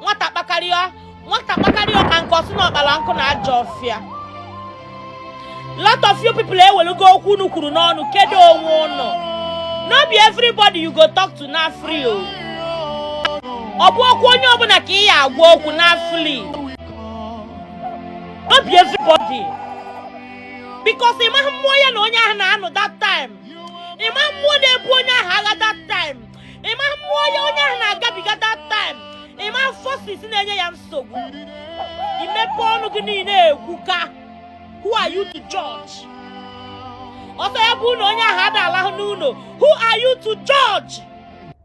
nwata kpakarịọ ka nkụ ọ sị na ọ kpara nkụ na ajọ ọfịa lot of you people ewelugo okwu unu kwuru n'ọnụ kedo onwe unu no be everybody you go talk to na free o ọ bụhọkwa onye ọbụla ka ị ya agwa okwu na free no be everybody because ị maghị mmụọ ya na onye ahụ na-anụ that time ị maghị mmụọ na-ebu onye ahụ agha that time ị maghị mmụọ ya onye ahụ na-agabiga that time ị maghị forces na-enye ya nsogbu i mepe ọnụ gị niile ekwuka who are you to judge ọsọ ya bụ ụlọ onye ahụ ada alahụ n'ụlọ who are you to judge